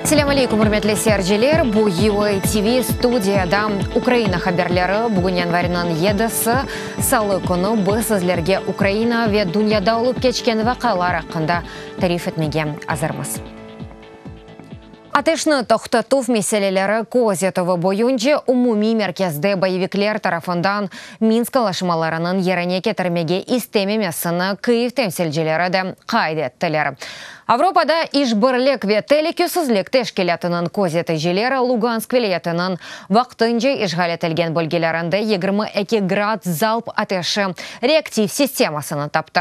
Selâm aleykum, ürmetli seyirciler! Bu VOA TV, studiyada Ukraina haberleri. Bugün yanvarnıñ yedisi, salı künü. Biz sizlerge Ukraina ve dünyada olıp keçken vaqealar aqqında tarif etmege azırmız. Ateşni toqtatuv meseleleri köz etüvi boyunca umumiy merkezde boyevikler tarafından Minsk alaşmalarınıñ yerine ketirmege istememesini Kyiv temsilcileri de qayd ettiler. Avropada İşbirlik ve telükesizlik teşkilâtınıñ közeticileri Lugansk vilâyetiniñ vaqtınca işğal etilgen bölgelerinde yigirmi eki grad zalp ateşi reaktiv sistemasını taptı.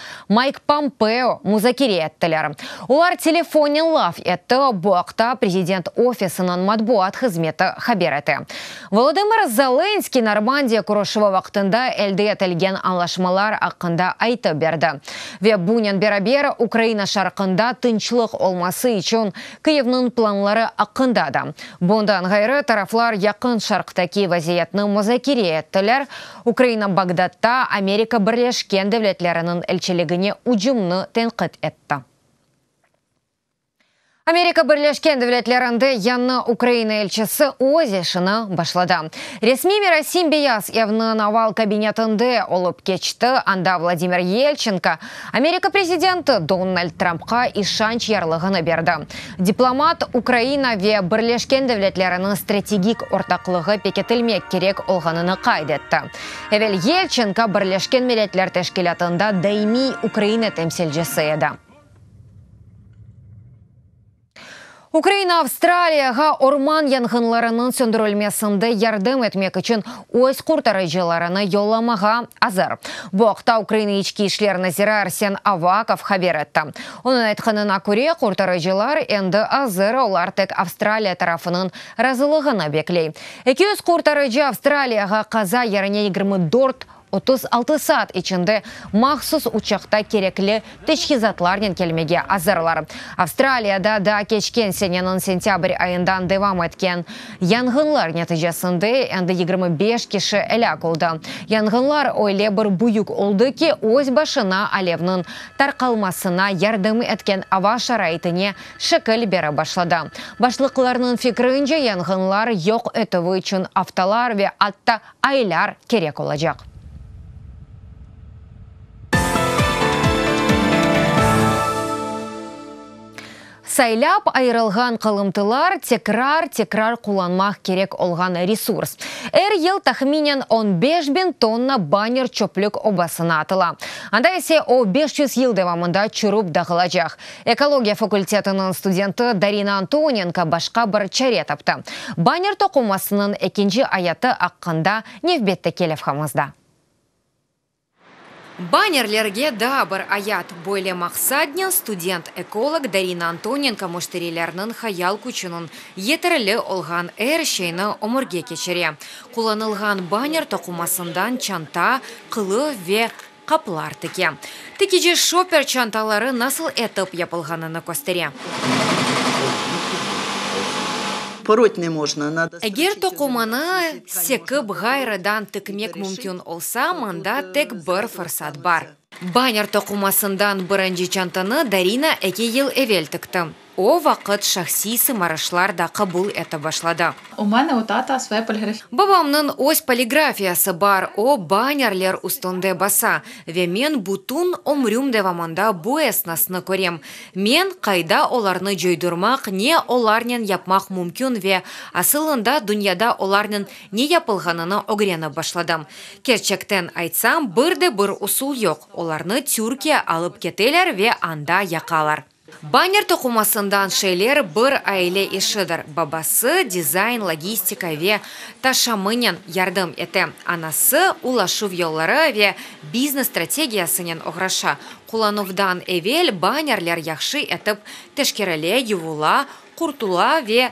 Mayk Pompeo muzakere ettiler. Olar telefonnen laf etti, bu aqta prezident ofisiniñ matbuat hızmeti haber ete. Volodımır Zelenskıy Normandiya körüşüvi vaqtında elde etilgen añlaşmalar aqqında aytıp berdi ve bunen beraber Ukraina şarqında tınçlıq olması içün Kyivniñ planları aqqında da. Bundan ğayrı, taraflar Yaqın Şarqtaki vaziyetni muzakere ettiler, Ukraina Bağdatta Amerika Birleşken Devletleriniñ elçiligine ücümni tenqit etti. Amerika Birleşken Devletlerinde yañı Ukraina elçisi öz işini başladı. Resmiy merasim Beyaz Evniñ oval kabinetinde olıp keçti, anda Vladimir Yelçenko, Amerika prezidenti Donald Trampqa işanç yarlığını berdi. Diplomat, Ukraina ve Birleşken Devletleriniñ strategik ortaqlığı pekitilmek kerek olğanını qayd etti. Evel Yelçenko Birleşken Milletler Teşkilâtında daimiy Ukraina temsilcisi edi. Ukraina Avstraliyağa orman yanğınlarınıñ söndürilmesinde yardım etmek içün öz qurtarıcılarını yollamağa azır. Bu aqta Ukraina İçki işler naziri Arsen Avakov haber etti. Onıñ aytqanına köre, qurtarıcılar endi azır, olar tek Avstraliya tarafınıñ razılığını bekley. Eki yüz qurtarıcı Avstraliyağa qaza yerine yigirmi dört Otuz altı saat içinde mahsus uçaqta kerekli teçhizatlarnen kelmege azırlar. Avstraliyada da keçken seneniñ sentâbr ayından devam etken yanğınlar neticesinde endi yigirmi beş kişi elâk oldı. Yanğınlar öyle bir büyük oldı ki, öz başına alevniñ tarqalmasına yardım etken ava şaraitine şekil bere başladı. Başlıqlarnıñ fikrince, yanğınlar yoq etüvi içün aftalar ve atta aylar kerek olacaq. Saylap ayırılğan qalımtılar, tekrar-tekrar qullanmaq kerek olğan resurs. Er yıl tahminen on beş biñ tonna banner çöplük obasına atıla. Anda ise o beş yüz yıl devamında çürüp dağılacaq. Ekologiya fakültetiniñ studenti Darina Antonenko başqa bir çare taptı. Banner toqumasınıñ ekinci ayatı aqqında nevbetteki levhamızda. Bannerlerge daa bir ayat, böyle maqsadnen student-ekolog Darina Antonenko müşterilerniñ hayal küçüniñ yeterli olğan er şeyni ömürge keçire, qullanılğan banner toqumasından çanta, qılıf ve Qaplar tike. Tikeci şoper çantaları nasıl etip yapılğanını köstere. Eger toqumanı sekip ğayrıdan tikmek mümkün olsa, mında tek bir fırsat bar. Banner toqumasından birinci çantanı Darina eki yıl evel tikti. O vaqıt şahsiy sımarışlar da qabul ete başladı. U mene u tata svoya poligrafiyası. Babamnıñ öz poligrafiyası bar, o bannerler üstünde basa, ve men bütün ömrüm devamında bu esnasnı körem. Men, qayda olarnı coydurmaq, ne olarnen yapmaq mümkün ve, asılında, dünyada olarnen ne yapılğanını ögrenip başladım. Kerçekten aytsam, bir de bir usul yoq, olarnı Türkiye alıp keteler ve anda yaqalar. Banner toqumasından şeyler bir aile işidir, babası dizayn, logistika ve taşımınen yardım ete, anası ulaşuv yolları ve biznes strategiyasınen oğraşa. Qullanuvdan evel bannerler yahşı etip teşkerile, yuvula, qurtula ve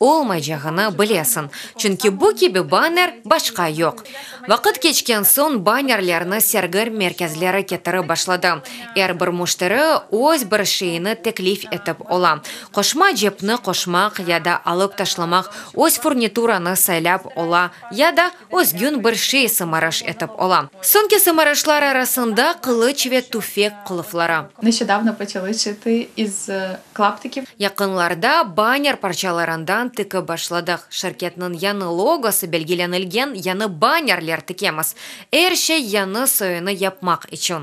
olmaycağını bilesiñ, çünki bu kibi banner başqa yoq. Vaqıt keçken soñ bannerlerni sergi merkezleri ketirip başladı, er bir müşteri öz bir şeyini teklif etip ola, qoşma cepni qoşmaq ya da alıp taşlamaq, öz furnituranı saylap ola ya da Özgün bir şey sımarış etip ola. Soñki sımarışlar arasında, qılıç ve tüfek qılıfları. Neşedavno poçalı çıtı iz klaptiki. Yaqınlarda banner parçalarından tiki başladıq. Şirketniñ yañı logosı belgilenilgen yañı bannerler tikemiz. Er şey yañı soyunı yapmaq içün.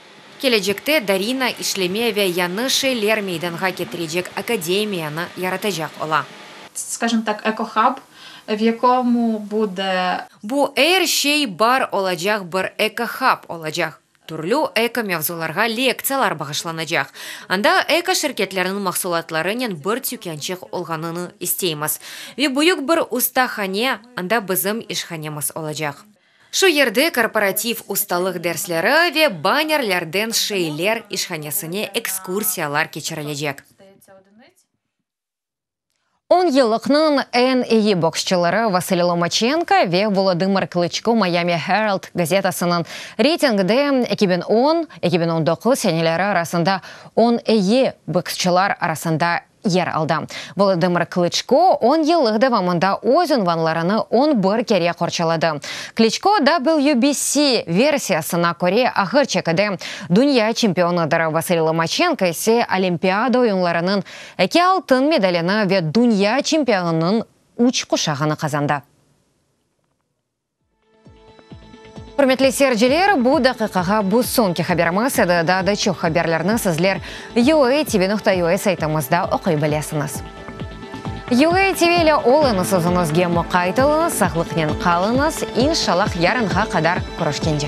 Kelecekte Darina işleme ve yañı şeyler meydanğa ketirecek akademiyanı yaratacaq ola. Skажем так, eko-hub, v yakomu bude. Bu, er şey bar olacaq bir eko-hub olacaq. Türlü eko-mevzularğa lektsiyalar bağışlanacaq. Anda eko-şirketlerniñ mahsulatlarınen bir tükânçıq olğanını isteymiz. Ve büyük bir ustahane, anda bizim işhanemiz olacaq. Şu yerde korporativ ustalıq dersleri ve bannerlerden şeyler işhanesine ekskursiyalar keçirilecek. On yıllıqnıñ eñ eyi boksçıları Vasiliy Lomaçenko ve Volodımır Klıçko Miami Herald gazetasınıñ reytingde eki biñ on, eki biñ on doquz seneleri arasında on eyi boksçılar arasında yer aldı. Volodımır Klıçko on yıllıq devamında öz unvanlarını on bir kere qorçaladı. Kliçko, WBC versiyasına köre, ağır çekide dünya çempionıdır, Vasiliy Lomaçenko ise Olimpiada oyunlarınıñ eki altın medalini ve dünya çempionınıñ üç quşağını qazandı. Ürmetli seyirciler, bu daqiqağa bu soñki haberimiz edi, daa da çoq haberlerni sizler UA TV nokta UA saytımızda oquy bilesiñiz. UA TV ile olıñız, özüñizge muqayt oluñız, saqlıqnen qalıñız, inşallah yarınğa qadar körüşkence.